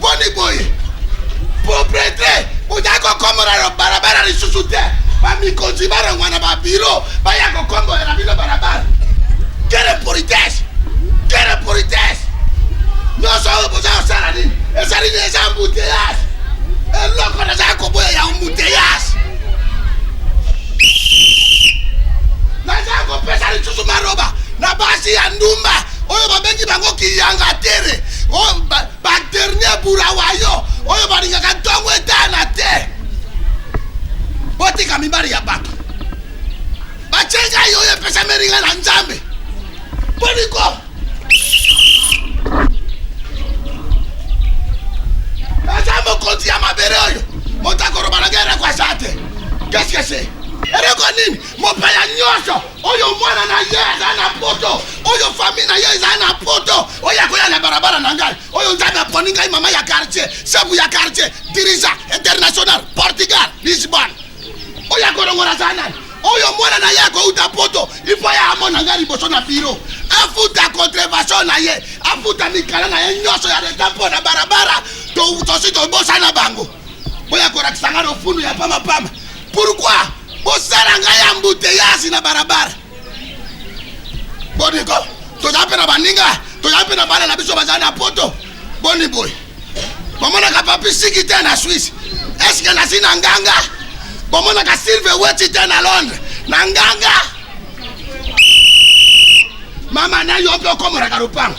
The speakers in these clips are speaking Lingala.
boni boye propretre boza kokombola na balabala lisusu te bamikonzi balongwa na babiro baya kokombola na bino balabala kele politesse kele politesse nyonso oyo boza kosala nini ezali na eza mbuteyage eloko nazali koboya ya mbuteyage nazali kopesa lisusu maloba na basi ya ndumba oyo babengi bango kiyangatere badernier burawayo oyo balingaka ntongo etana te botika mibali ya bato batye ngai oyo epesameli ngai na nzambe boniko eza mokonzi ya mabele oyo moto akoloba na ngai eleko aza te keskese eleko nini mopaya nyonso oyo mwana na ye azali na poto oyo famille na ye ezali na poto oyo akoya na barabara na ngai oyo nzambe aponi ngai mama ya quartier sebu ya quartier dirija international portugal lisbon oyo akolongola azali nani oyo mwana na ye akouta poto ifo ye amona ngai liboso na biro afuta contrevation na ye afuta mikala na ye nyonso ya leta mpo na barabara tosi tobosana bango boya kolakisa ngai lofundu ya pamapama Pourquoi bosala ngai embouteillage na barabara? Boni ko tozali mpe na baninga, tozali mpe na bana na biso bazali na poto. Boni boye bomonaka papi siki te na Suisse? Eske nasi na nganga? Bomonaka Silve Weti te na Londres na nganga? Mama na yo mpe okomoraka lopango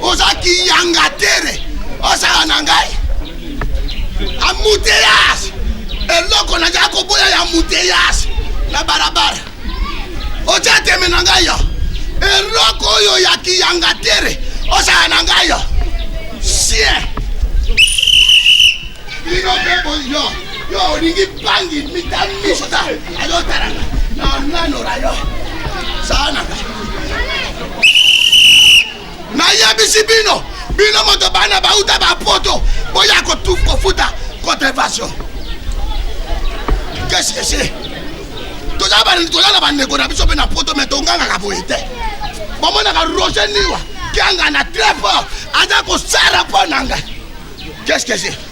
oza kiyanga tere osala na ngai amuteyage eloko naza koboya ya muteyage na balabala otya teme na ngai yo eloko oyo ya kiyanga tere osala na ngai yo sien bino mpe yo yo olingi bangi mitamisota azotalanga na nanora yo saanaka nayebisi bino bino moto bana bauta bapoto boya kofuta contrevention kesi kesi toza toza na bandeko na biso mpe na poto me tongangaka boye te bomonaka roger niwa kianga na très fort aza kosara mpo na ngai kesi kesi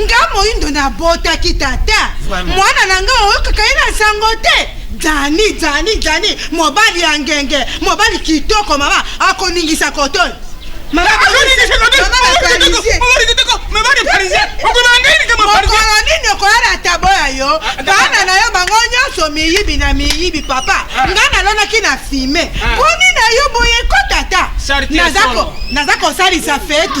nga moyindo nabotaki tata mwana na nga oyokaka ye na nsango te dani dani dani mobali ya ngenge mobali kitoko mama akoningisa kotoyo mokolo nini okoyala tabo ya yo bana na yo bango nyonso miyibi na miyibi papa nga nalonaki na fime mpo nini na yo boye ko tata naza kosalisa feti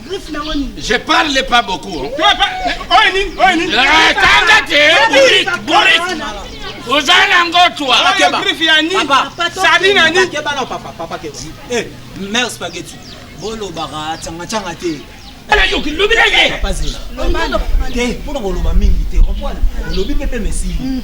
Je parle pas beaucoup. Hein. oza nango twa mère spaghetti bolobaka cangacanga te nayoki lobi na ye te mpona koloba mingi te olobi mpe mpe mesili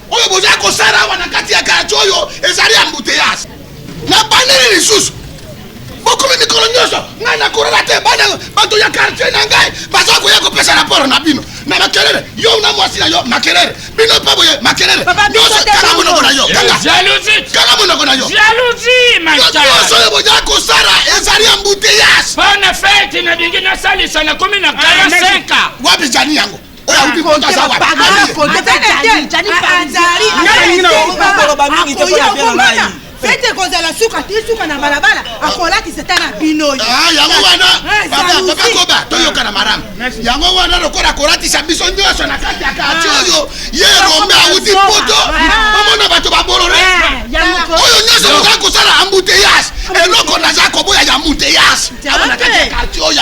oyo boza kosala awa na kati ya kartie oyo ezali ambuteyage na bandeli lisusu bokomi mikolo nyonso ngai nakorala te bana bato ya kartie na ngai baza koya kopesa raporo na bino na makelele yo na mwasi na yo makelele bino mpe boye makelele nyonso kanga monoko na yo kanga monoko na yo nyonso oyo boza kosala ezali ambuteyage bana feti nalingi nasalisa nakomi na 45 ah, wapi jani yango fete ekozala suka te suka na balabala akolakisa ta na bino yango wanabakoba toyokana malamu yango wana lokola akolatisa biso nyonso na kati ya kati oyo ye rombe awuti poto omona bato babolole oyo nyonso oza kosala ambuteyage eloko naza koboya ya ambuteyage amonakati ya kartie oyo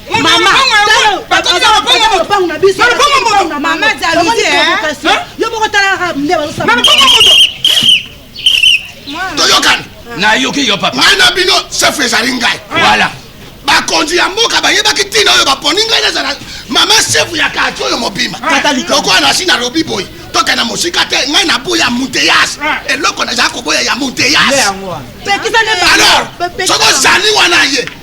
toyokani nayoki yo papa ngai na bino chef ezali ngai voilà bakonzi ya mboka bayebaki ntina oyo baponi ngai nazala mama sefu ya kati oyo mobima lokola nasi nalobi boye tokenda mosika te ngai naboya muteyas eloko nazala koboya ya muteyas alors soki ozali wana ye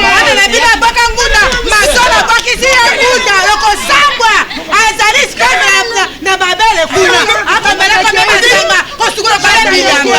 mwana na bino aboka nguda masolo abokisi ye nguda lokosambwa azali sikoyo na babele kuna akomelaka mpe masanga kosukola bale bilamba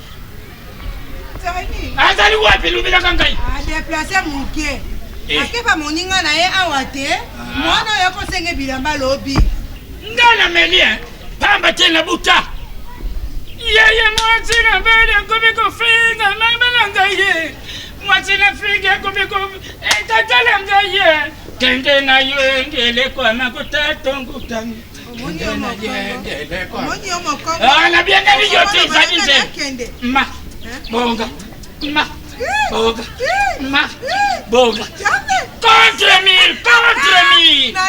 azali wapi lobelaka ngai adeplace ah, moke eh. akepa moninga na ye awa te ah. mwana oyo akosenge bilamba lobi ngai nameli eh. pamba te na buta yeye mwasi na beli akomi kofinga mama na ngai ye mwasi na fingi akomi ko etatala eh, ngai ye kende na yo engeleko ya makuta tongutangi nabengani yo te ezali nde ma bonga ma bonga ma bonga contre mille contre mille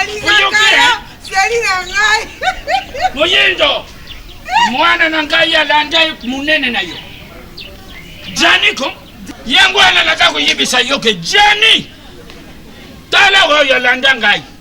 moyindo mwana na ngai alanda monene na yo janiko yango wana naza koyebisa yo ke jani tala oyo alanda ngai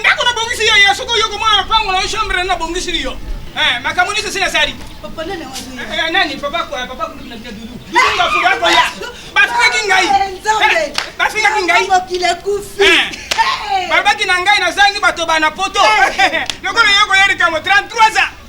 ndako nabongisi yo ya soki oyoko mwana lopango na yo chambre nabongisili yo eh, makambo nyonso esili asali eh, eh, nani papa kulubina bina dudu dudubafubakoya bafingaki ngai bafingaki ngai babaki na ngai nazangi bato bana poto lokola yoko ya likambo 33 ans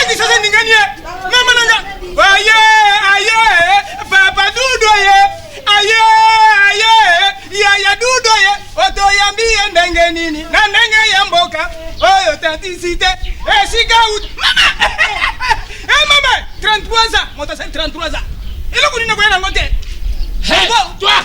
Adi sasa ningani ye mama nanga aye aye papa dudo ye aye aye yaya dudo ye otoyambi ye ndenge nini na ndenge ya mboka oyo tatisite esika uti mama e mama 33 ans moto asali 33 ans eloko nini nakoya nango te toi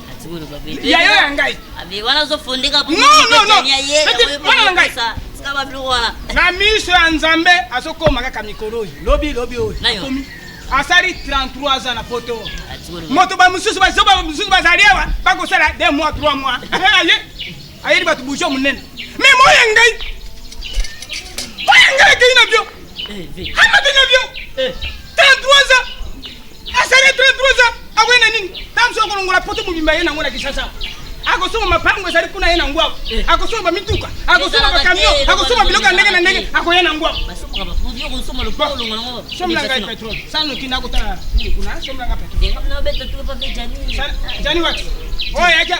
yayo ya ngai wana ozofondeka mwana na ngai na miso ya nzambe azokoma kaka mikolo oyo lobi lobi oyo akomi asali 33 ans na poto moto bamosusu bazoba mosusu bazali awa bakosala 2 mois 3 mois ayeli bato bourgeois monene me moya ngai moya ngai akei na bio amati na bio 33 ans asali 33 ans akoye na nini tamso akolongola poto mobimba ye nango na kisasa akosomba mapango ezali kuna ye na ngwako eh. akosomba bamituka akosomba bakamio akosomba biloko ya ndenge na ndenge akoya na ngwako sombela ngai petrole sala noki nakotala kuna sombela ngai petrole jani wati oyo oh, yaja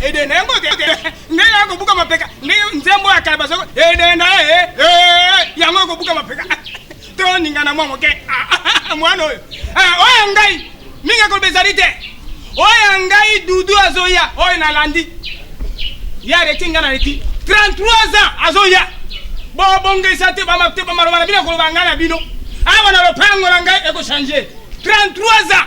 edenda yango ndenge ya kobuka mapeka ndenge nzembo ya kala bazoko edenda yango ekobuka mapeka toningana mwa moke mwana oyo oyo ya ngai mingi akoloba ezali te oyo ya ngai dudu azoya oyo nalandi ya reti ngai naleki 33 ans azoya bobongisa te bamate bamaloba na bino akoloba ngai na bino awa na lopango na ngai ekochange 33 ans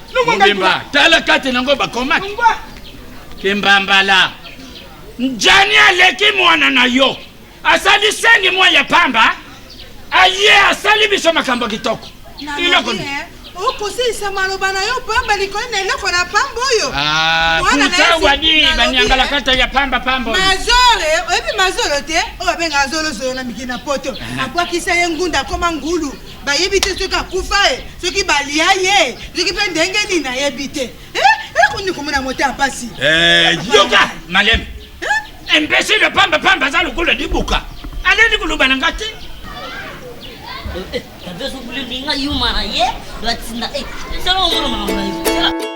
Mobimba, tala kati nango bakomaki kimbambala njani aleki mwana na yo asali sengi mwa ya pamba aye asali biso makambo kitoko iloko eh, okosilisa maloba na yo pamba likolo na eloko na pamba oyo kusawadi ah, banyangalakata ya pamba pamba mazore eh, oyebi mazolo te oyo abengaka zolozolo na mikili na poto eh. abwakisa ye ngunda akoma ngulu bayebi te soki akufa ye soki balia ye soki mpe ndenge nini nayebi te ekoni eh, eh, komona moto ya mpasi eh, yoka maleme imbesile pamba pamba aza lokola libuka aleli koloba na nga te tavezokulelinga yuma na ye batinda esala omona makambo na yo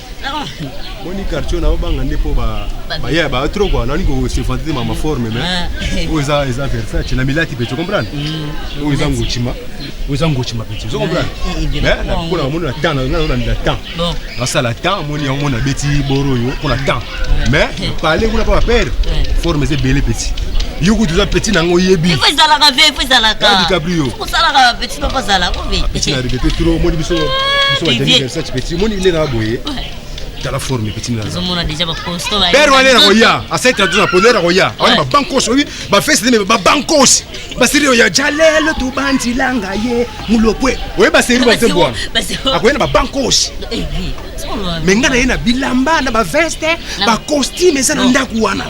boni quartier na obanga nde mpo baya ba trop kua nani kosefante te mama forme me ah. oyo eza eza versace na milati mpe tocomprendre mm. oyo eza ngotima oyo eza ngotima mpe tocomprendre mpona amoni na temps nanananila temps nasala temps amoni yango mona abeti boro oyo mpona temps mais pale kuna mpo bapere forme eza ebele petit yo kutu oza petit nango oyebi dicabrio salaka ba petit papa zala ko be petit na ribete trop moni biso biso ba demi versace petit moni ile na boye tala forme petit na zo mona déjà ba costo ba père wana na koya asai traduire na pondera koya wana ba bankos obi ba fesse de ba bankos ba serio ya jalelo tu banzi langa ye mulopwe oye ba serio ba tembo akoya na ba bankos eh, eh, me ngai na ye na bilamba na ba veste ba costume eza na ndako wana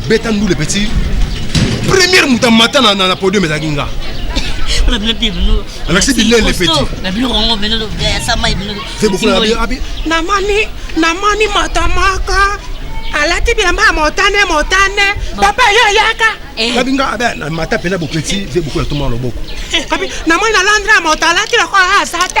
Beta ndule petit. Première moto amata na, na, na podium ezalaki nga. alakisi bilele petit. namoni namoni moto moko alati bilamba ya motane motane papa yo oyaka eh. kabi nga abe mata mpenza bopeti ve bokola toma loboko kabi namoni na londre ya moto alati lokola aza te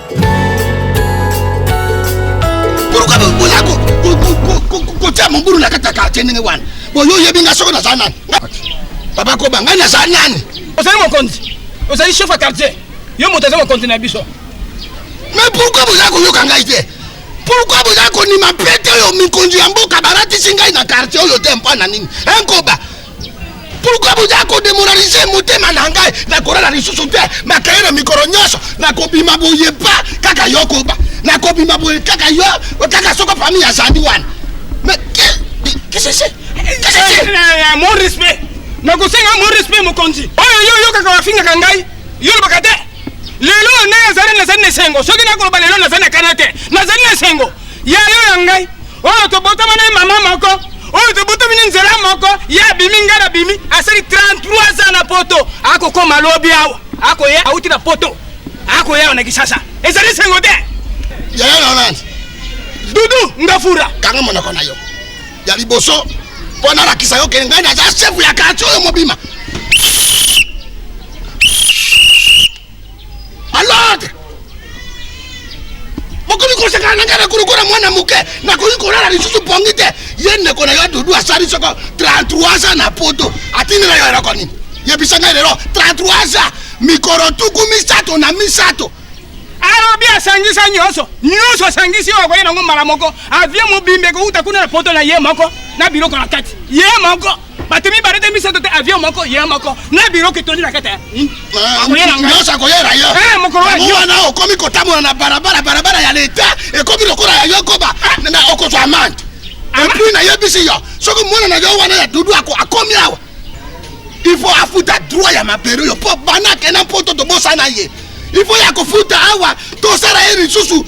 kotia mobulu na kati ya kartie ndenge wana boyo oyebi nga soki naza nani papa koba ngai naza nani ozali mokonzi ozali chef ya quartier yo moto aza mokonzi na biso me pourkui boza koyoka ngai te pourkui boza konima pete oyo mikonzi ya mboka balatisi ngai na quartier oyo te mpo na nini enkoba pourkui boza kodemoralize motema na ngai nakolala lisusu te makaye na mikolo nyonso nakobima boye pa kaka yo koba nakobima boye kaka yo kaka soko famille azali wana mon respect nakosenga mon respect mokonzi oyo yo oyokaka bafingaka ngai yo olobaka te lelo ngai azali nazali na esengo soki nakoloba lelo nazali na kana te nazali na esengo ya yo ya ngai oyo tobotama na ye mama moko oyo tobotami na nzela moko ye abimi ngai nabimi asali 33 ans na poto akokoma lobi awa akoya auti na poto akoya na kisasa ezali sengo te yaya na nani dudu ngafura kanga monoko na yo ya liboso mpo nalakisa yo kende ngai naza sefu ya kartie oyo mobima Alord! Bokomi kosakana na ngai na kolokola mwana moke nakoki kolala lisusu pongi te ye ndeko na yo dudu asali soko 33 ans na poto atindela yo eloko nini yebisa ngai lelo 33 ans mikolo tuku misato na misato alobi asangisa nyonso nyonso asangisi oyo akoye nango mbala moko avie mobimba ekouta kuna na poto na ye moko na biloko na kati ye moko bato mibale te misato te avion moko ye moko na biro kitoni na kete nyonso akoyera yo eh, wana okomi kotambola na barabara barabara ya leta ekomi lokola ya yo koba ah. okozwa amande epuis nayebisi yo soki mwana na yo wana ya dudu akomi awa il faut afuta droit ya mabele oyo mpo bana akenda mpoto tobosana ye il faut ya kofuta awa tosala ye lisusu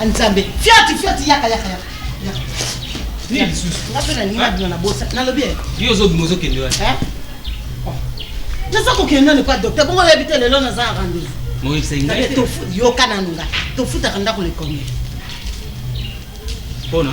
Ah, nzambe fiati fiati yaka yaka yaka naza kokende nani kwa docteur bongo oyebi te lelo naza na rendez-vous yoka nanu nga tofutaka ndako lekomele mpona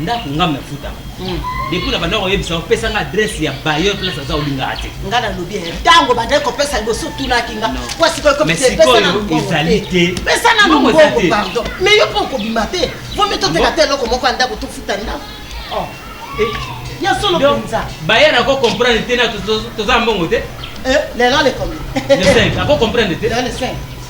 ndako nga me futa hmm. depuis na banda koyebisa opesa nga adresse ya bailleur place aza olingaka te nga nalobi eh, ntango bandaki kopesa liboso otunaki nga po sikoyokopesana ezali te pesa na mbongo pardon mais yo mpo okobima te vomi toteka te eloko moko ya ndako tofuta ndako oh. eh. ya solo mpenza bailleur ako comprendre te na toza mbongo te eh, lelo lekomi ako comprendre te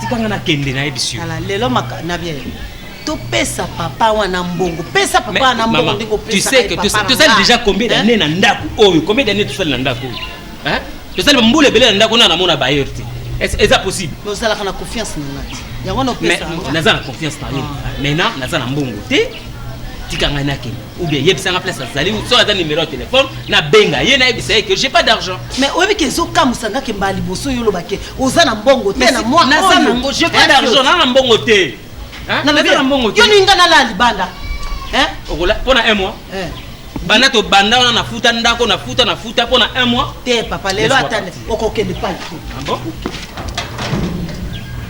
tika nga nakende nayebisi yo ala lelo maka na bien topesa papa wana mbongo pesa papa wana mbongo ndenge opesatosali deja combien d'année na ndako oyo combien d'année tosali na ndako oyo tosali bambula ebele na ndako na namona bayer te eza possible ozalaka na confiance na nga yango naza na confiance na yo ah. maintenant naza na mbongo te tika ngai nakende ou bien yebisa nga place azali soki aza numero ya telefone nabenga ye nayebisa ye ke j'ai pas d'argent mais oyebi ke ezokamwisa nga ke mbala liboso yo olobake oza na mbongo te na mwa naza nango j'ai pas d'argent naa na mbongo te naza na mbongo te yo ninga nalaa libanda okola mpo na un mois eh. banda tobanda wana nafuta ndako nafuta nafuta mpo na un mois te papa lelo ata okokende pai ah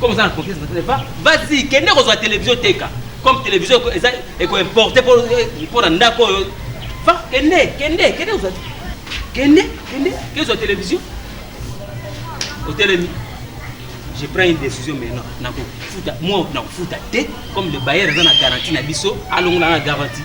comme oza na confiance na televa vas-y kende kozwa televizio teka comme televizio eza ekoimporte mpo na ndako oyo va kende kende kende kozwa kende kende kezwa televizio otelemi je prends une décision maintenant nakofuta moi nakofuta te comme le bayer aza na garantie na biso alongola na garantie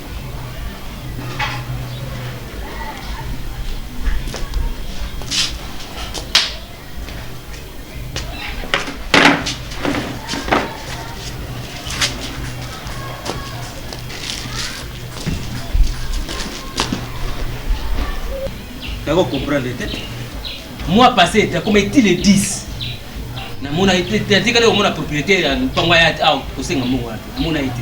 nako comprendre te mois passé ete akoma eti le 10 namona ete atikali komona propriétaire ya mpango ya awa kosenga mbongo wana namona ete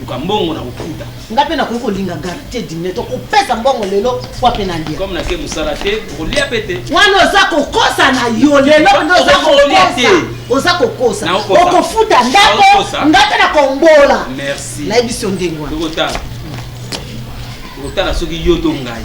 luka mbongo na kofuta nga mpe nakoki kolinga garite dine to kopesa mbongo lelo po mpe nalia comme nake mosala te okolia mpe te wana oza kokosa na yo lelo nde oza kokosa oza kokosa okofuta ndako nga mpe nakombola nayebisi yo ndenge wana okotala soki yo to ngai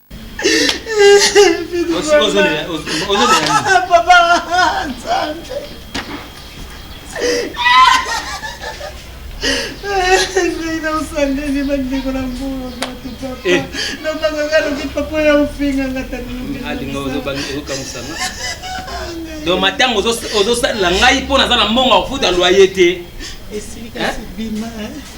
donc matango ozosalela ngai mpo naza na mbongo ya kofuta loye te esilika sibima eh?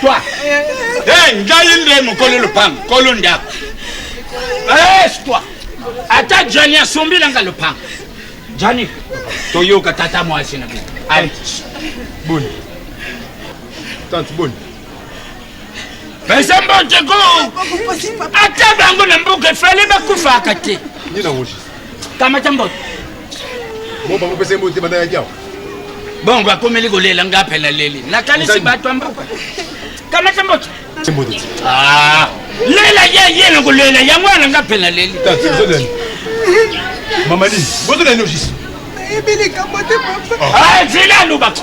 Toi. Eh, ngai nde mokolo lopango, kolo ndako. Eh, toi. Ata Johnny asombi nanga lopango. Johnny, toyoka tata mwasi na bino. Allez. Boni. Tante boni. Pesa mbote ko. Ata bango na mboka efale bakufaka te. Nina ngojisa. kama ca mboto bo bango pesa mbote banda ya kiao bongo akomeli kolela nga mpe naleli nakanisi bato ya mboka kama ca mboto ah, lela ye ye nakolela yango wana nga mpe naleli mamadi bozolani ojisi nayebi likambo te papa ah, zela alobaka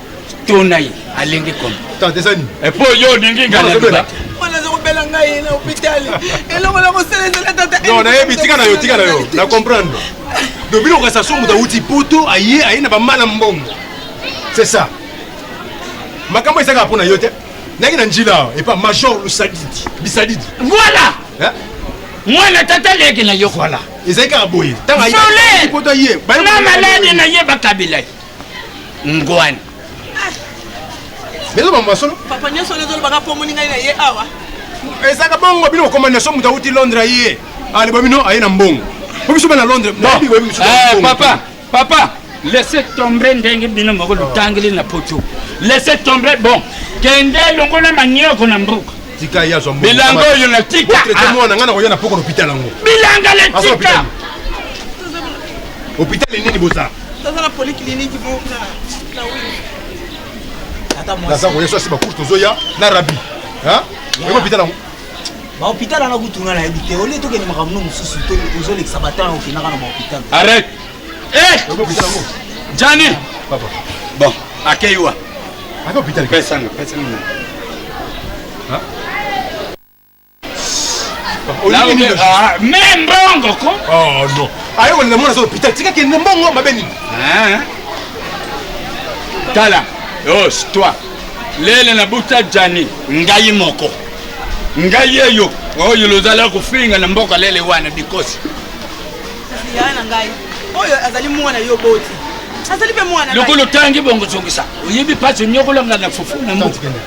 tona ye alenge comme tata eza nini eh, po yo olingi ngai naloba mwana aza kobela ngai na hôpital eloko na kosala ezala tata non nayebi tika na yo tika na yo na comprendre donc bino okasa so moto awuti poto aye aye na bamala mbongo c'est ça makambo ezalaka mpo na yo te nayaki na njila awa epa major lusadidi bisadidi voilà mwana tata leki na yo voilà ezalaki kaka boye ntango ayepoto aye na maladi na ye bakabila ye ngwani lelo mambo ya solo papa nyonso oyo ezolobaka mpo omoni ngai na ye awa ezalaka bongo bino kokoma nation moto awuti londres aye aleba ah, bino aye na mbongo po biso bana londres eh, papa papa laisse tomber ndenge bino moko lotangeli na poto laisse tomber bon kende longola manioko na mboka tika ye azwa bilanga oyo na tika botraite ah. mwana ngai nakoya na poko na hôpital yango bilanga le tika hôpital nini boza Tazala polyclinique moko kuna na wing. Tata mwasi. Naza koya sosi bakutu tozoya na rabi. Hein? Eko pita nango. Ba hôpital ana kutu nga na yebi te. Olie tokende makambo no mosusu to ozolekisa batana okendaka na ba hôpital. Arrête. Eh! Eko pita nango. Jani. Papa. Bon, akeiwa. Aka hôpital. Pesa nga, pesa nga. Hein? Olingi nini? Ah, mais mbongo ko. Oh non. Ayo wala mwana zo pita tika kende mbongo mabe nini? Hein? Tala. Oh, toi. Lele na buta Jani, ngai moko. Ngai yeyo. Oyo lozala kofinga na mboka lele wana bikosi. Ya na ngai. Oyo azali mwana yo boti. Azali pe mwana. Lokolo tangi bongo zongisa. Oyebi pasi nyokola ngana fufu na mboka.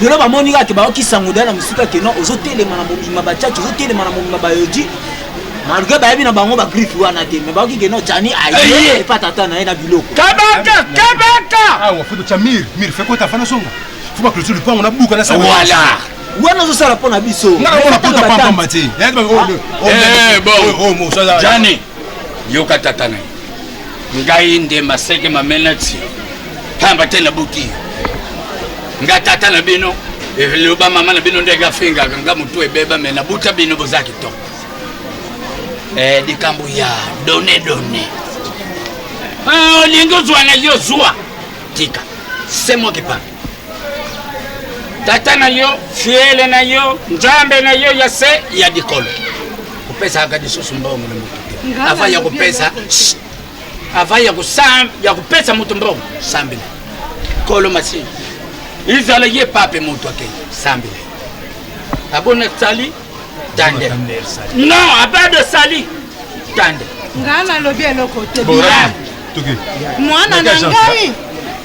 lelo bamoni kaka bayoki sango dala na mosika ke non ozotelema na mobima bachachi ozotelema na mobima bayoji malgré bayebi na bango bagriffe wana te me bayoki ke non chani aye epa tata na ye na biloko kabaka kabaka awa foto cha mir mir fekota fana songa fo baclotire lupango na buka na sa wala wana ozosala mpo na biso jani yoka tata na ye ngai nde maseke mamenati pamba te nabuki yo nga tata na bino eloba mama na bino ndenge afingaka nga motu ebeba me nabuta bino boza kitoko eh, likambo ya done done ah, olingi ozwa na yo zwa tika se moki pamba tata na yo fiele na yo nzambe na yo ya se ya likolo kopesaka lisusu mbongo na moto te ava ya kopesa ava ya kopesa moto mbongo sambela kolo masini izala ye pape moto akei sambela abona sali tande non apart de sali tande ngai nalobi eloko te bilal mwana na ngai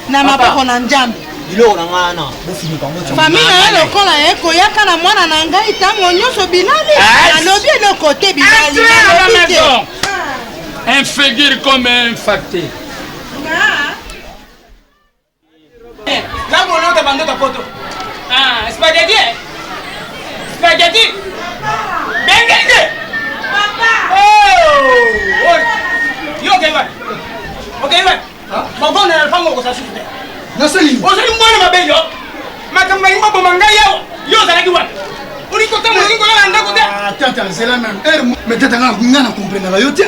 na maboko na njambe biloko na ngai wana bofinika yango famille na ye lokola ye koyaka na mwana na ngai ntango nyonso bilali nalobi eloko te bilali nalobi te un figure comme un facteur Tata, c'est la même heure. Mais tata, nga na comprendre la yotia.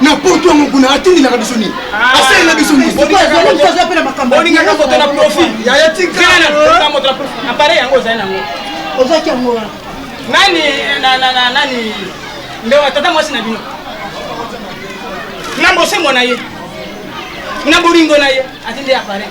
na porte yango kuna atindelaka biso nini ah. asalela biso niniolingaka moto na profil yaya tikana moto na profil apareil yango ozali nango ozwaki yango wana nani nani nde tata mwasi na bino na bosembo na ye na bolingo na ye atinde apareil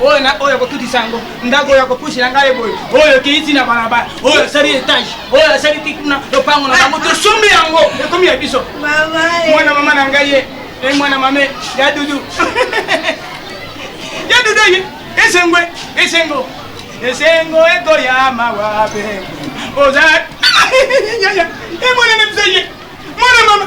oyo na oyo akotutisa yango ndako oyo akopusela ngai boye oyo ekei ti na balabala oyo asali etage oyo asali ti kuna lopango na bango tosombi yango ekomi ya biso mwana mama na ngai ye e mwana mame ya dudu ya dudu ye esengo esengo esengo ekoya mawa mpe oza emonene biso ye mwana mama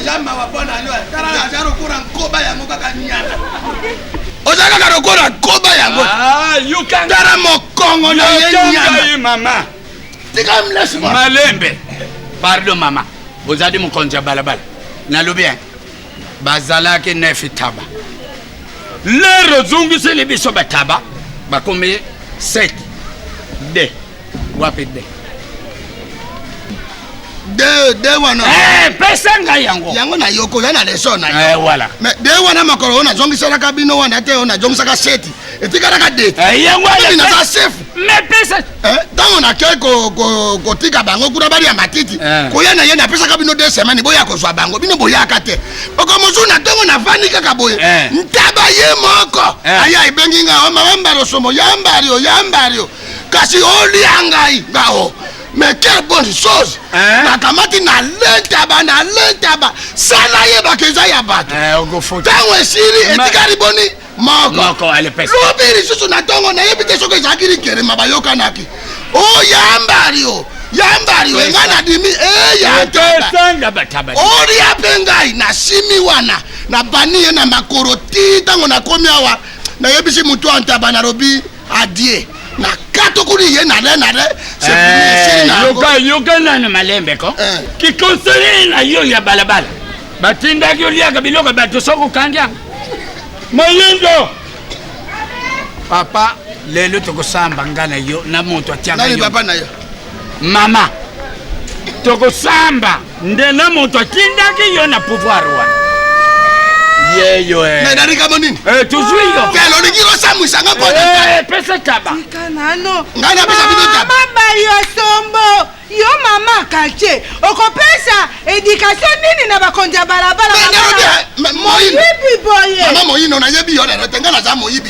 eza mawa mpo na yo tala aza lokola nkoba yango kaka nyana oza kaka lokola nkoba yango ah, tala mokongo na ye nyana tika mlesi malembe pardon mama ozali mokonzi ya balabala nalobi eh, bazalaki nefi taba lero ozongiseli biso bataba bakomi 7 de wapi de de de wana eh pesa ngai yango yango na yoko ya na leso na eh voilà mais de wana makolo ona zongisela ka bino wana te ona zongisaka seti etikala ka de eh yango ya na sa chef mais pesa eh tango na ke ko ko ko tika bango kuna bali ya matiti eh. ko ya na ye na pesa ka bino de semaine boya ko zwa bango bino boya ka te oko mozu na tango na vani kaka boye eh. ntaba ye moko eh. aya ibengi nga o mawamba losomo yambari o yambari kasi olia ngai ngao mais quelle bonne chose Hein? nakamati na lentaba na lentaba sa nayebaka eza ya bato Eh, okofuta ntango esili Ma- etikali boni moko moko alepesa lobi lisusu na ntongo nayebi te soki ezalaki likelema bayokanaki o yambali o yambali o engai nadimi eyataba esanga bataba olia mpe ngai nasimi wana nabani ye na makolo ti ntango nakomi awa nayebisi motu ya ntaba nalobi adie na kato kuni ye nale nale yoka yoka nana malembe ko eh. kikonsele na yo ya balabala batindaki oliaka biloko bato soki okangi yango moyindo papa lelo tokosamba nga na yo na moto atiaka yo mama tokosamba nde na moto atindaki yo na pouvoir wana yeyo eh. mais na likambo nini eh, tozwi yo kele olingi kosambwisa nga mpona eh, pesa taba ngai napesa bino tabamama yo sombo yo mama katie okopesa edikatio nini na bakonzi ya balabala moyibi boye mama moyino nayebi yo lelo te ngai naza moyibi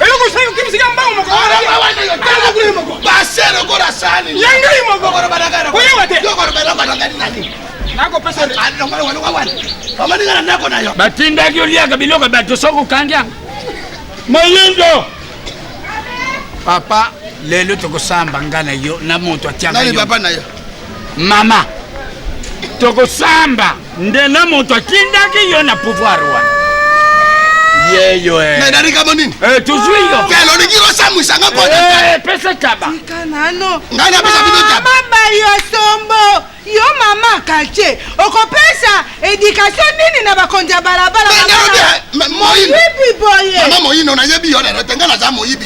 eloko osali okimisi ya mbango moko base lokola sani ya ngai moko oyewa te batindaki oliaka biloko bato soki okangi yango mayindo papa lelo tokosamba nga na yo na moto atiaka yo mama tokosamba nde na moto atindaki yo na pouvoir wana yeyo eh. mais na likambo nini eh, tozwi yo kelo olingi kosamwisa nga mpopesa eh, taba ngai napesa bino taba bayo sombo yo mama katie okopesa edikatio nini na bakonzi ya balabala moyibi boye mama moyino nayebi yo lelo te ngai naza moyibi